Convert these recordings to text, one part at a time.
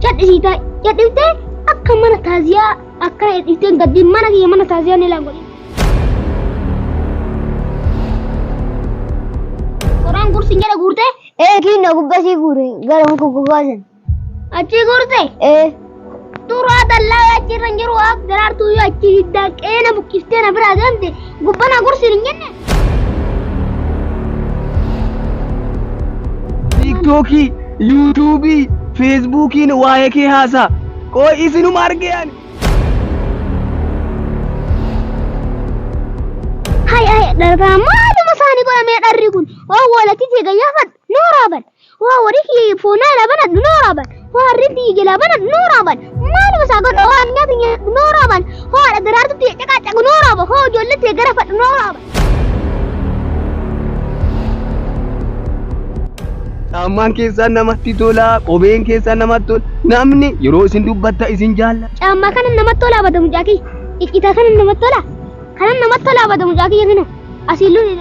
Cadhisiitaa cadhiftee akka mana taaziyaa akka cadhifteen gaddiin mana kiyya mana taaziyaa ni laan godhin. Qoraan gursi jedha guurtee Ee kiinna gubbasii guure gara muka gogaasan. achii guurtee Ee turaa dallaa achirra hin jiru waaq daraartuu yoo achii hiddaa qeena buqqistee na biraa deemte gubbana gursi hin jenne. Tiiktookii, Yuutuubii, Feesbuukiin waa'ee kee haasaa. Qoo isinuma argee ani. Hay hay darbaa maaluma isaanii godhamee dharri kun owwoola titee gayyaafadhu nooraa bal Waa warri kiyya foonaa laban addunoo raaban. Waa harri fiige laban addunoo raaban. Maal masaa godha waa nyaata nyaata noo raaban. Hoo haadha daraartutti caqaa caqu noo raaban. Hoo ijoollee ta'e gara fadhu noo raaban. Caammaan keessaan namatti tola, qobeen keessaan namatti tola. Namni yeroo isin dubbatta isin jaalla. Caammaa kana namatti tola abada mucaa kiyya. Iccitaa kana namatti tola. Kana namatti tola abada mucaa kiyya kana. Asiin luun hin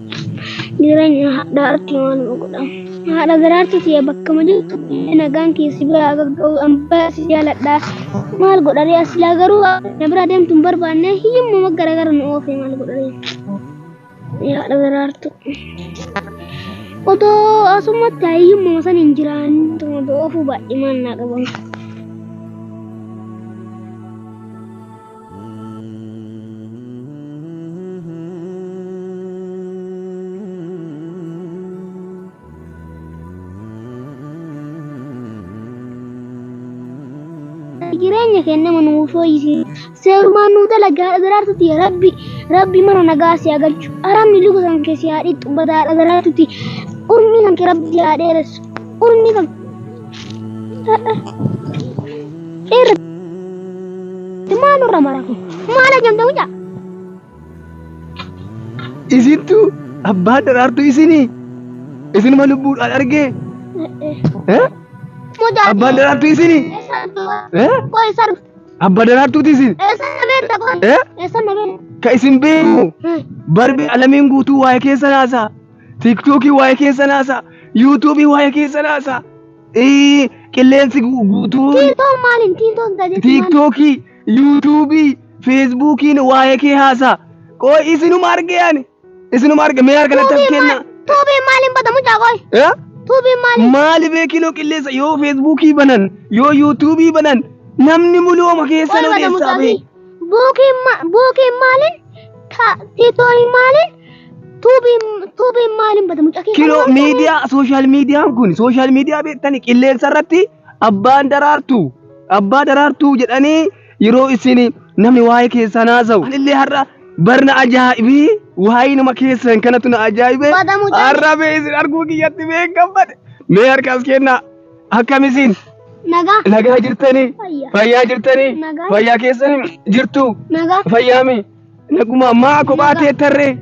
Jireenya haadha irratti maaluma godhama? Haadha daraartu siya bakkama jirtu illee nagaan kee si bira haa gagga'u an baay'ee si jaaladha. Maal godharee as silaa garuu na bira deemtu hin barbaanne hiyyummuma gara gara nu oofee maal godharee? Yaa haadha daraartu. Otoo asumatti hiyyummuma san hin jiraannituma oofuu baay'ee maal naa qaban. jireenya keenya mana nuu fooyyisi seerumaan nuu dalagaa dhadaraartutti yaa rabbi rabbi mana nagaa si haa galchu aramni luka kan kee si haa dhiqxu badaa dhadaraartutti urmii kan kee rabbi si haa dheeressu urmii kan Irra. Maal irra mara kun? Maal ajamta mucaa? Isintu abbaa daraartuu isinii isinuma lubbuudhaan argee eh? Mucaa. abbaan daraartuu isinii eh? Koo isa dhufu. abbaa daraartuuti isin Isa na beekta koo. Eh? Isa na beekta. ka isin beeku barbee alamiin guutuu waa'ee keessa naasaa Tiktookii waa'ee keessan haasaa. Yuutuubii waa'ee keessan haasaa. Ee, Qilleensi gu- guutuu. Tiiktoon maaliin tiiktoon tajaajila Tiiktookii, Yuutuubii, Feesbuukiin waa'ee kee haasaa. Qoy isinuma arge ani. Isinuma arge mee harka natti as kenna. Tuubiin maaliin bata mucaa qoy. Eh? Tuubiin maaliin. Maali beekinoo qilleensa yoo Feesbuukii banan, yoo Yuutuubii banan, namni muluuma keessan Qoy bata odeessaa mucaa bee. fi. Bookeen maaliin tiitoorii maaliin tuubiin maaliin bada mucaa keessa. Kiloo miidiyaa sooshaal miidiyaan kun sooshaal miidiyaa beektanii qilleensa irratti abbaan daraartuu abbaa daraartuu jedhanii yeroo isin namni waa'ee keessan haasa'u. Anillee har'a barna ajaa'ibii waa'ee nama keessan kanatu na ajaa'ibe har'a bee isin arguu kiyyatti beekamfadhe mee harkaas kennaa. Akkam isin? Nagaa. Nagaa jirtanii? Fayyaa. Fayyaa jirtanii? Nagaa. Fayyaa keessan jirtu? Nagaa. Fayyaami? Naguma maa kophaa Nagaa. teettarree?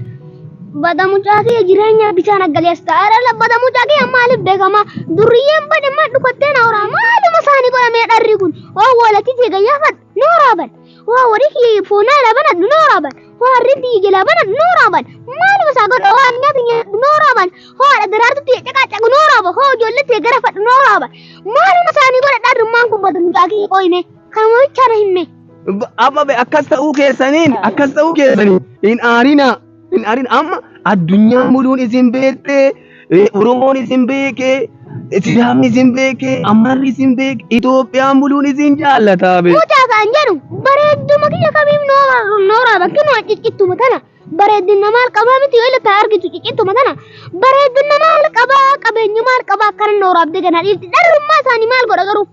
Bada mucaa kee jireenya bitaa naggalees ta'aadha. Bada mucaa kee maaliif beekama? Durriyyeen badammaa dhukattee na horaa. Maaluma isaanii godhamee dharri kun? Oo walatii teegayyaafadha. Nooraaban. Waa warii kiyya foonaa laban addu nooraaban. Waa harreen tiyya jalaa ban addu nooraaban. Maaluma isaa godha waa addunyaa tiyya addu nooraaban. Hoo haadha daraartu tiyya caqaacaqu nooraaban. Hoo ijoollee tiyya gara fadhu nooraaban. Maaluma isaanii godha dhaadhummaan kun badu mucaa kiyya qooyime. Kanuma bichaa na himme. Abba be akkas ta'uu keessaniin akkas ta'uu keessaniin hin aarinaa. Hin arin amma addunyaa muduun isin beektee eh, Oromoon isin beekee Sidaamni isin beekee Ammarri isin beekee Itoophiyaan buluun isin jaallataa bee. Mucaa kan jedhu bareedduma kiyya kamiif noora noora bakki nu ciccittuma tana bareeddina maal qabaa miti yoo ilata argitu ciccittuma tana bareeddina maal qabaa qabeenyi maal qabaa akkana nooraaf degana dhiifti dharrummaa isaanii maal godha garuu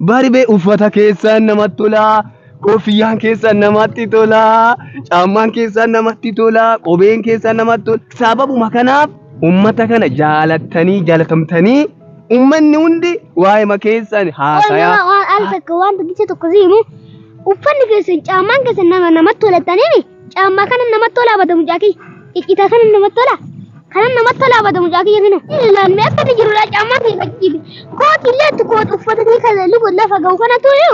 Barbee uffata keessan namatti tolaa, koofiyyaan keessan namatti tolaa, caammaan keessan namatti tolaa, qobeen keessan namatti tola. Sababuma kanaaf uummata kana jaalattanii jaalatamtanii uummanni hundi waa'ima keessan haasayaa. Waan al tokko waan tokkicha tokko si himu uffanni keessan caammaan keessan nama namatti tolataniini Caammaa kanan namatti tolaa bada mucaa kiyya. Ciccitaa kanan namatti tolaa. Kanan namatti tolaa bada mucaa kiyya kinu. Ilaalaan mee akkati jirudha caammaa kee fakkiiti. Kooti illee itti kooti uffata kee kan lubu lafa ga'u kana tuyu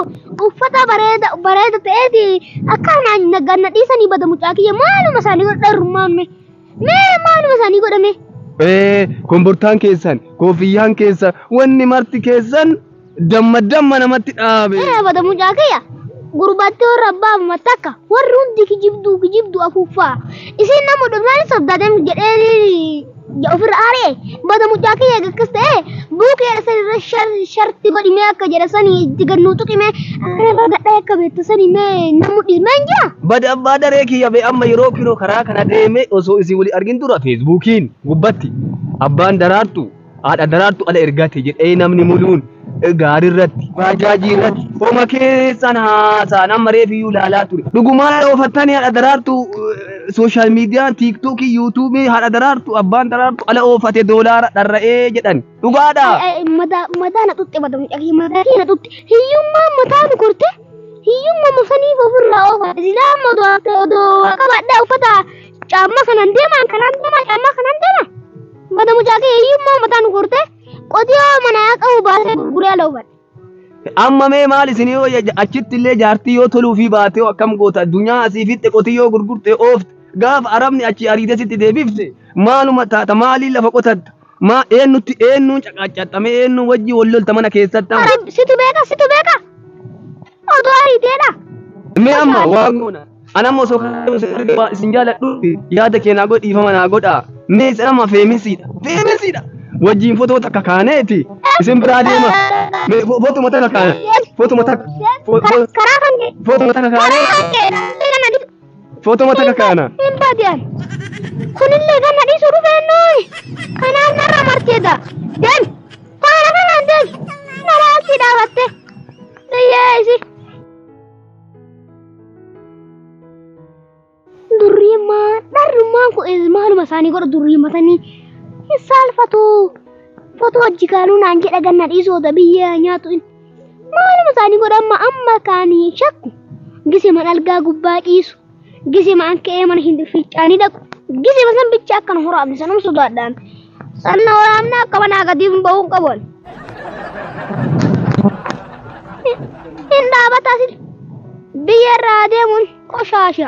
uffata bareeda bareeda ta'eeti akka naan nagaan na dhiisanii bada mucaa kiyya maaluma isaanii godha dharrummaan mee. Mee maaluma isaanii godhame. Ee, kombortaan keessan, koofiyyaan keessan, wanni marti keessan Damma damma namatti dhaabe. Irra bada mucaa kiyya gurbattee warra abbaa amma takka warri hundi kijibduu kijibduu afuuffaa isin nama dhufnaan sabdaadem jedhee ofirra aaree bada mucaa kiyya akkas ta'ee buukee san irra sharti godhimee akka jedha sani itti gannuu tuqimee akka gadhaa akka beektu sani mee namu dhismeen jira. Bada abbaa daree kiyya bee amma yeroo kinoo karaa kana deeme osoo isin wali argin dura feesbuukiin gubbatti abbaan daraartu Haadha daraartu ala ergaa ta'e jedhee namni muluun gaarii irratti baajaajii irratti homa keessan haasaan amma reefiyyuu ilaalaa ture. Dhugumaa oofattanii haadha daraartu sooshaal miidiyaa tiiktookii yuutuubii haadha daraartu abbaan daraartu ala oofate doolaara dharra'ee jedhan. Dhugaadha. Madaa na xuxxe bada mucaa kiyya madaa kiyya na xuxxe hiyyummaa mataa nu korte hiyyummaa mafaniif ofirraa oofate silaa amma odoo haftee odoo waa qabaadhaa uffata caammaa kanaan deemaan kanaan deemaa caammaa kanaan deemaa. Mata mucaa kee hiyyummaa uummataa nu gortee qotiyoo manaa qabu baasee gurguree ala hubadhe. Amma mee maal isin yoo achitti illee jaartii yoo toluu fi baatee hoo akkam goota addunyaa asii fitte qotiyyoo gurgurte oofte gaafa arabni achi ariitee sitti deebifte maaluma taata maaliin lafa qotatta maa eennutti eennuun caqaaccaxxame eennuun wajjin wal lolta mana keessatti amma. Arab situ beeka situ beeka. Oduu ariiteedha. Mee amma waa goona. Ana amma osoo kana isin arge waa isin jaaladhu yaada kee naa godhi dhiifama naa godha. Mee isin amma feemisiidha. Feemisiidha. Wajjin fotoo takka kaaneeti. Isin biraa deema. Mee fo- fotuma takka kaane. Fotuma takka. fo- fo- Karaa kan kee. Fotuma takka kaane. Karaa kan kee. Footoo mata kakaana. Hin baadiyan. Kunillee ganna dhiisuu dhufee nooyi. Kanaan narra martee daa. Dem. Faana kanaan dem. Nalaa asii dhaabatte. Dayyee isi. Durriimmaa dharrummaan kun is- maaluma isaanii godha durriimmatanii hin saalfatu. Footoo hojii kaaluu naan jedha ganna dhiisuu oda biyyee haa nyaatu inni. Maaluma isaanii godha amma amma kaanii hin shakku. Gisiman algaa gubbaa ciisu. Gisiman ka'ee mana hin fiicaanii dhaqu. Gisima san bicha akka nu horaamne sanuma sodaadhaan. Sanna horaamne akka manaa gadiif hin ba'uun qaban. Hin dhaabataa sin. Biyya irraa deemuun qoshaasha.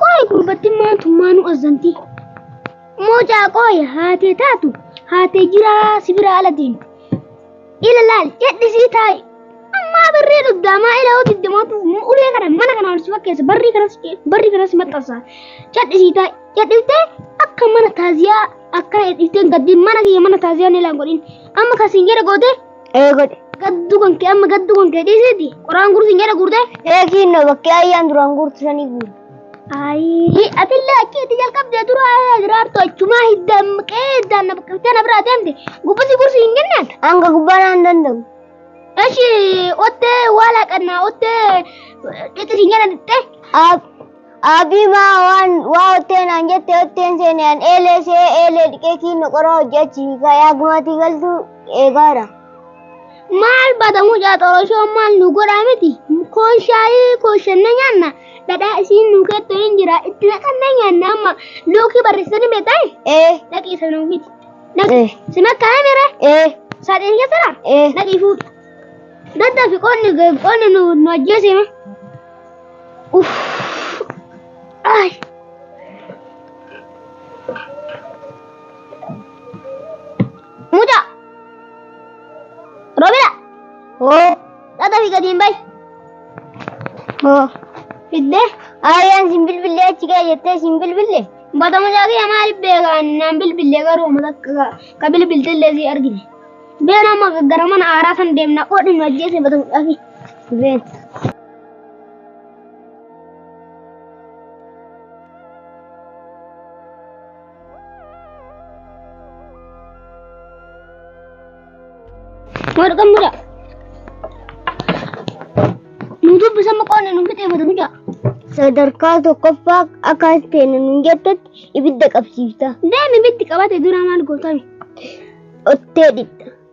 Qoy gurbattiin maantummaa nu azzanti. Moocaa qoy haatee taatu haatee jiraa si bira ala deemti. Ila laal jedhisii taa'i. Ammaa barree dhugdaamaa ila hoo digdamaatu ulee kana mana kana ol si fakkeessa barrii kanas barrii kanas maxxansa. Jedhisii taa'i jedhiftee akka mana taaziyaa akkana jedhiftee gaddiin mana kiyya mana taaziyaa ni laan godhin. Amma kan siin jedhe gootee Ee godhe. Gaddu kan kee amma gaddu kan kee dhiisiti. Qoraan guursin jedha guurtee. Ee kiinno bakkee ayyaan duraan guurtu sanii guure. Ayii atillee achiitti jalqabdee dura diraartu achumaa hiddaan maqee hiddaan na bakkaftee na biraa deemte gubbasi gursi hin kennaan. Hanga gubbaa naan danda'u. Eshi ottee waala qannaa ottee dhixi hin jedhan dhixxee. Aab Aabii maa waan waa ottee naan jette otteen seene an eelee se'ee eelee dhiqee kiinno qoraa hojje achi hiikaa yaa gumaatii galtuu eegaara. Maal bada mucaa xoroshoo maal nu godhaa miti koon shaayii kooshanne nyaanna dhadhaa isiin nu keettoo hin jira itti naqannee nyaanna amma lookii barreessanii beektaa Ee dhaqii isa nuu fidi. Dhaqii Eh. si makkaana mire ee saaxiin keessa dha ee. dhaqii fuudha. Daddaa fi qoonni qoonni nu nu ajjeesee. Muda. Robina. Oh. Tata fi gadi hin bayi. Oh. Fidde. Ayyaan sin bilbille achi kee jettee sin bilbille. Bata mucaa kiyya maaliif beekaan naan bilbille garuu mata ka bilbilte illee si argine. Been amma gara mana aaraa san deemna qoodhin nu ajjeese bata mucaa kiyya. Been. Wal kan muda. Nutup bisa makuha na nungkit eh, madami ka. Sadarkaa tokkoffaa akka ta'een nun jettutti ibidda qabsiifta. Demi bitti qabate dura maal gootame? Ottee dhidha.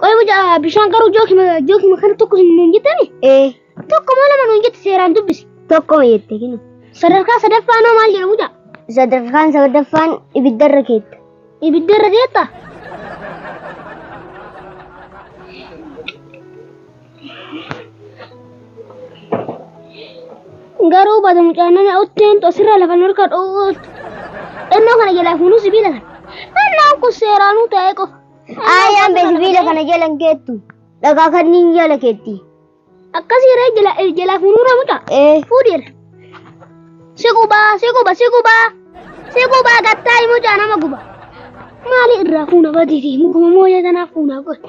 Qoy mucaa bishaan garuu jookima jookima kana tokko nuun jettani Ee tokko moo lama nuun jette seeraan dubbisi. tokko jette kinu. Sadarkaa sadaffaa noo maal jedha mucaa? Sadarkaan sadaffaan ibiddarra keetta. Ibidda irra deetta? Garuu baata mucaan nana utteen tosirra lafa nurka dho'uut. Ennoo kana jalaa fuunuu sibiila kana. Ennaan kun seeraanuu ta'ee qofa. Aayaan bee sibiila kana jala hin keettu. Dhagaa kanniin jala keetti. Akkasii ree jala jalaa fuunuu ree mucaa. Ee. Fuudhiira. Si gubaa si guba si gubaa. Si gubaa gattaayi mucaa nama guba. Maali irraa fuuna badiitii mukuma mooyee tanaaf fuunaa godhe.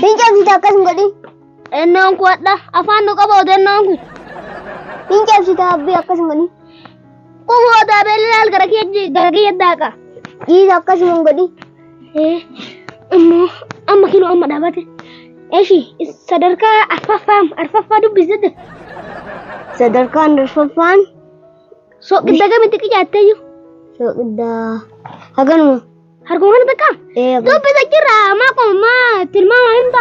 Fincaan siita akkas hin godhin. Ennoon kun hadha afaan nu qaba odennoon kun. Fincaan siita abbii akkas hin godhin. Kun hoodaa beelalaal gara kiyya gara kiyya daaqa. Dhiisa akkas hin godhin. Eh, amma amma kinoo amma dhaabate. Eshi sadarkaa arfaffaa arfaffaa dubbisate. Sadarkaan arfaffaan Soqidda gamitti qicaattee jiru. soqiddaa haganuma. Harkumaan takka? Ee abbaa. Dubbisa jirra maa qoma maa tilmaama himta.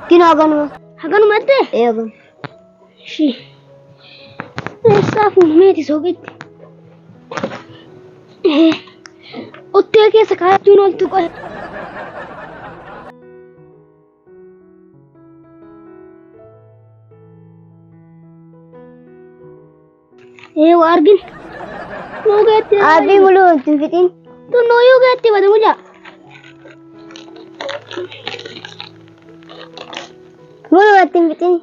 Kin haganuma. Haganuma jettee? Ee abbaa. Ishii. Eessaa fuunmeeti sooqitti. Ee. Ottee keessa kaa'achuun ooltu qoy. Ee waa argin. Nuu geetti. Aabii muluu hin fixiin. Tunnuu yuu geetti bada mulaa. Muluu itti hin fixiin.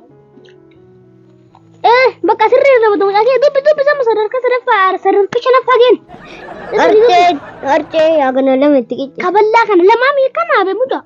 Ee bakka sirrii irra bada mulaa kee dubbi dubbi sama sadarkaa sadaffaa sadarka shanaffaa geen. Arcee arcee yaa kana lama itti qicce. Kaballaa kana lamaa miikamaa bee mulaa.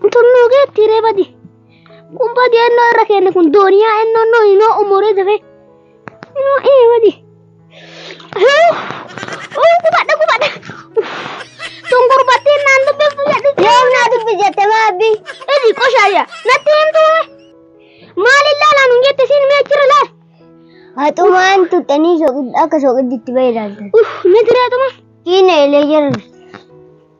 Kutunnoo keetti hiree badi. Kun badi ennoo irra keenne kun dooniyaa ennoo noo inoo umuree dafee. Inoo ee badi. Uu gubadha gubadha. Tun gurbattiin naan dubbiftu jedhu. Yoom naa dubbi jette maabbi. Iji qoshaayya natti himtu. Maaliin laalaa nun jette siin mee jira laal. Haxumaan tuttanii soqid- akka soqidditti bahe ilaaltan. Uff meetireetuma. Kiina ilee jira.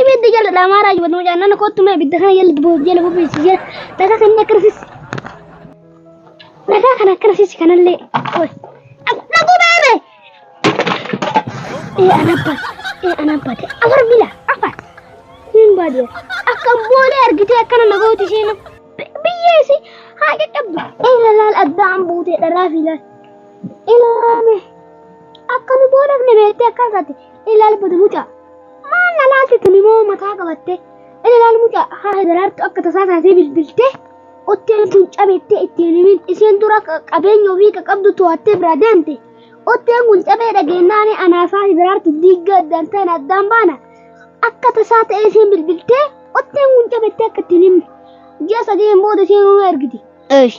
Ibidda jala dhaamaaraa jiru mucaan nana kottu mee ibidda kana jala boob jala bobeessi jala dhagaa kan inni akkanasiis dhagaa kan akkanasiis kanallee oy dhaguu baarre ee anabba ee anabba ta'e afar bila afar hin baadee akka boolee argitee akkana nagooti isheen biyyee isi haa qaqqabdu ee lalaal addaan buutee dharaa fi laal ilaame. Akka nu goolabne beektee akka isaati ilaal badu mucaa. Maal na laalti tuni moo mataa qabattee ilaal mucaa haa hidaraartu akka tasaa taatee bilbiltee otteen kun cabeettee ittiin himin isheen dura qabeenya ofii qabdu to'attee biraa deemte. Otteen kun cabee dhageenyaanii anaafaa hidaraartu diiggaa addaan ta'an addaan baana. Akka tasaa ta'ee isheen bilbiltee otteen kun cabeettee akka ittiin himne. Ji'a sadiin booda isheen nu ergiti. Eesh.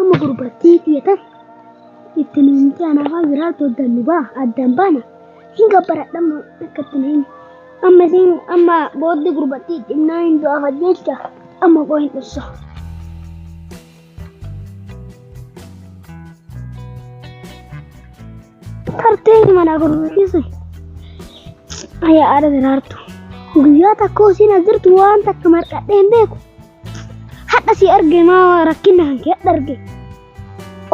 Amma gurbattii tiyatan itti nuumti anaafaa jiraatu addan nu baa addan baana hin gabbaradhamma akka itti nuumti. Amma isiin amma booddi gurbattii dhimnaa hin du'aaf ajjeecha amma qoo hin dhufsa. Tartee mana gurbattii sun ayyaa aada jiraartu. Guyyaa takka isiin as jirtu waan takka marqadhee hin beeku. Hadha si arge maa rakkinna hanke hadha arge.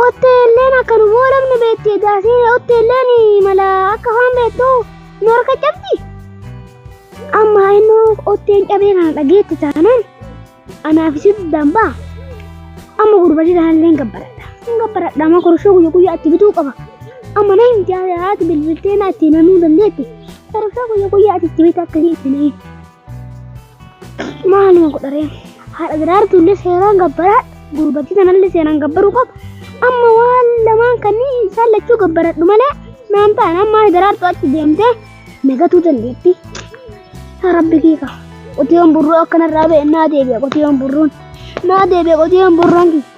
Otteelleen akka nu boolamne beekti edaasee otteelleen mala akka waan beektu nu harka cabdi. Amma inni otteen cabee kana dhageetti taanaan anaaf isin dambaa. Amma gurbati taanillee gabbaradha. Hin gabbaradha amma korshoo guyya guyya itti bituu qaba. Amma na himti haati bilbiltee na itti namuu dandeetti. Korshoo guyya guyya itti bitaa akka itti namuu. maaluma godharee haadha daraartuullee seeraan gabbaraa gurbattii tanallee seeraan gabbaruu qaba amma waan lamaan kanneen isaan lachuu gabbaradhu malee naan ta'an amma haadha daraartu achi deemtee nagatuu dandeetti yaa rabbi kiika qotiyoon burruu akkanarraa ba'e naa deebi'a qotiyoon burruun naa deebi'a qotiyoon burruun kiika